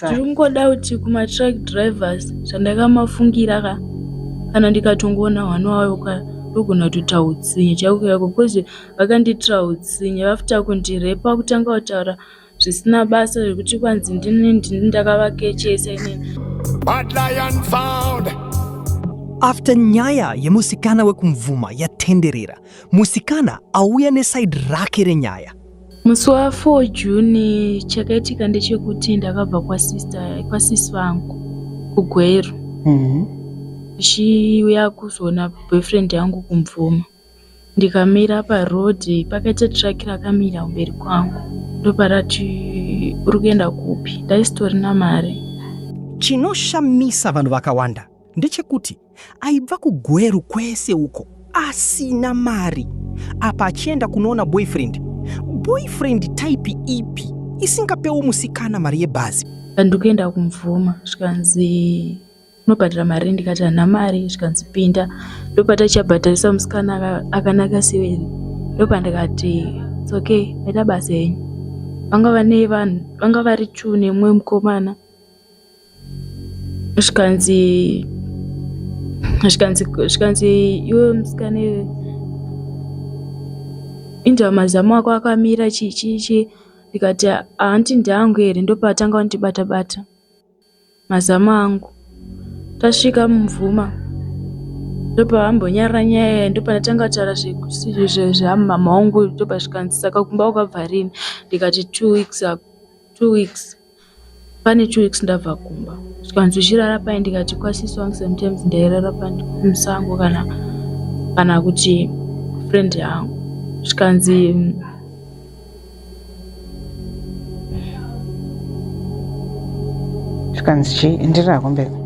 tiri kungoda kuti kumatruck drivers zvandakamafungira ka kana ndikatongoona hwana wayo ka ndogona kutoita utsinye chaiko chaiko bcause vakandiitira utsinye vafter kundirepa kutanga kutaura zvisina basa zvekuti kwanzi ndini ndini ndakavakechesa inini But lion found. after nyaya yemusikana wekumvuma yatenderera musikana auya neside rake renyaya Musi wa 4 June chakaitika ndechekuti ndakabva kwasister kwasisi vangu kuGweru Mhm. ndichiuya kuzoona boyfriend yangu kumvuma ndikamira paroad pakaita truck rakamira kumberi kwangu ndoparati uri kuenda kupi ndaisitorina mari Chinoshamisa vanhu vakawanda ndechekuti Aibva kuGweru kwese uko asina mari apa achienda kunoona boyfriend. Boyfriend type ipi isingapewo musikana mari yebhazi? Ndikuenda kumvuma zvikanzi unobhadhara mari ndikati hana mari zvikanzi pinda ndopatachabhadharisa musikana akanaka siveri ndopandikati it's okay ita basa henyu vanga vane vanhu vanga vari two nemumwe mukomana zvikanzi zvikanzi zvikanzi iwe musikane inda mazamu ako akamira chii chii chii ndikati hanti ndeangu here ndopaatanga kundibata bata mazamu angu tasvika mumvuma ndopavambonyarara nyaya yayi ndopandatanga kutaura zvamama wangu ndopazvikanzi saka kumba wakabva rini ndikati two weeks ago two weeks Pane two weeks ndabva kumba zvikanzozvirara paye ndikati kwasisi wangu sometimes ndairara pamusango kana kana kuti friend yangu zvikanzi zvikanzi chii enderera kumberi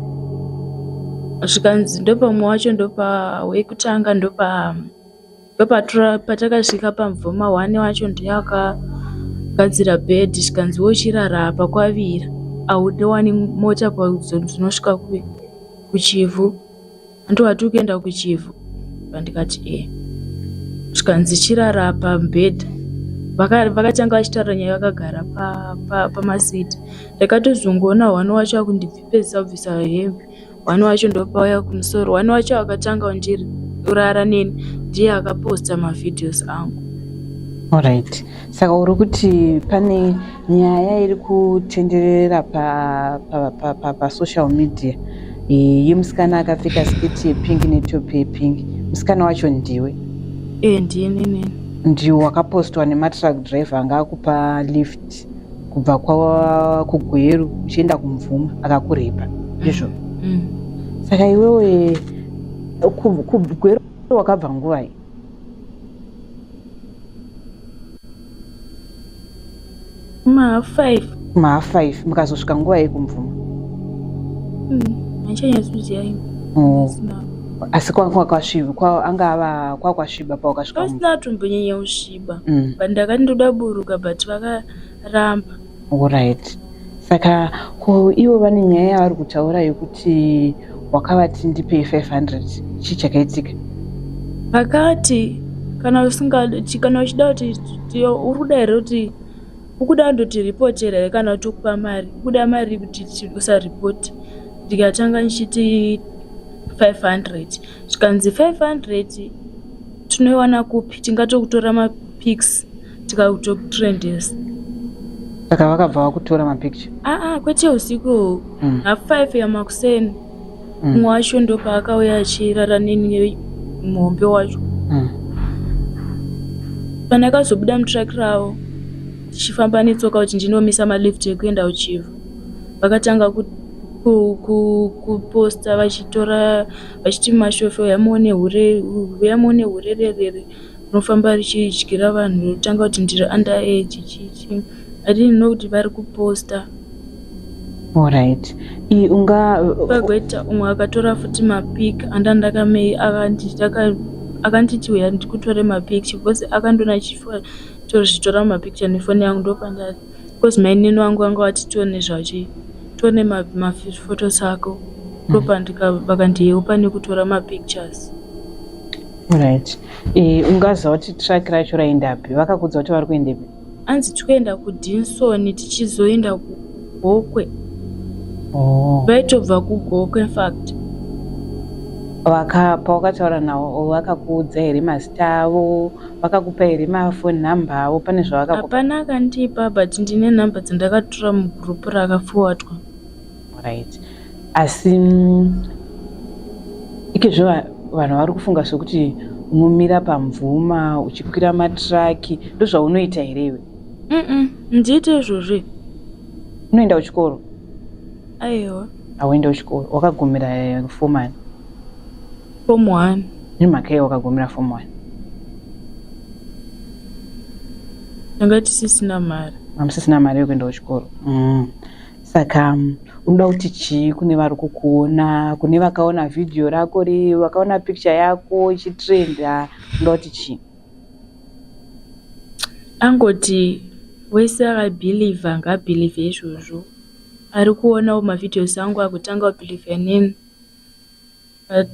zvikanzi ndopa mumwe wacho ndopa wekutanga ndopa Ndopatura patakasvika pamvoma one wacho ndiye akagadzira bed zvikanzi wochirara apa kwavira aude wani mota pazonosvika kuchivhu andiwati ukuenda kuchivhu pandikati ee eh. zvikanzi chirara pabed vakatanga vachitaura nyaya vakagara pamasiti ndakatozongoona one wacho akundibvipezisa kubvisa hembe One wacho ndopauya kumusoro. One wacho akatanga kundiri kurara neni ndiye akaposta mavideos angu Alright. Saka uri kuti pane nyaya iri kutenderera pa, pa, pa, pa, pa social media e, yemusikana akapfeka sketi yepink netopi yepink musikana wacho ndiwe e, ndiye nini ndiwe wakapostwa nematruck driver anga akupa lift West kubva kwa kuGweru uchienda kuMvuma akakurepa ndizvo mm. saka iwewe kuGweru wakabva nguvai mahalf five mahalf five mukazosvika nguva yekumvuma handichanyatsoziva hmm, hmm. asi kwanga kwasviba anga ava kwakwasviba pawakasvika asina atombonyanya kusviba kuba mm. but ndakati ndoda buruka but vakaramba orit saka ko ivo vane nyaya yavari kutaura yekuti wakavati ndipe 500 chii chakaitika vakati kana usingadi kana uchida kuti uri kuda here kuti ukuda ndotiripotera here kana kuti ukupa mari ukuda mari kuti usaripoti ndikatanga ndichiti 500 zvikanzi 500 tinoiwana kupi tingatokutora mapics tikakutokutrendesa saka vakabva vakutora mapicture aa ah, ah, kwete usiku mm. half five yamakuseni mumwe mm. wacho ndopaakauya achirara neni muhombe wacho mm. kana akazobuda mutrack ravo tichifamba netsoka kuti ndinomisa malift ekuenda kuchivha vakatanga kuposta vachitora vachiti mashosho huya muone hure huya muone hurererere rinofamba richidyira vanhu rinotanga kuti ndiri under age chichi i didn't know kuti vari kuposta Alright. I- Unga pagweta umwe akatora futi mapic anda ndakamei akanditi aka- akanditi uya ndikutore mapic because akandona chifo tozvitora mapicture nefoni yangu ndopandati Because mainini wangu vanga vati tione zvachi tione maphotos ako ndopandika mm. vakandiyeu pane kutora mapictures right e, ungaziva kuti track racho raendapi vakakudza kuti vari kuendepi anzi tikuenda kudinsoni tichizoenda kugokwe oh. vaitobva kugokwe infact vaka pawakataura nawo vakakuudza here mazita avo Vakakupa here mafoni nhamba avo pane zvavakakupa? Hapana akandipa but ndine nhamba dzandakatura mugroup rakafowatwa. Right. Asi mm, ikezvo vanhu vari kufunga sokuti unomira pamvuma uchikwira matraki ndozvaunoita here iwe? Mm ndiite izvozvo. Unoenda kuchikoro? Aiwa. Hauenda kuchikoro wakagumira eh, fomani. Form 1. Nemhaka yei wakagumira form 1? Tanga tisisina mari. Amusisina mari yekuenda kuchikoro. Mm. Saka mm, unoda kuti chii kune vari kukuona, kune vakaona video rako ri, vakaona picture yako ichitrenda, unoda kuti chii? Angoti wese akabhilivha ngaabhilivhe izvozvo. ari kuonawo mavideos angu akutanga kubelieve neni but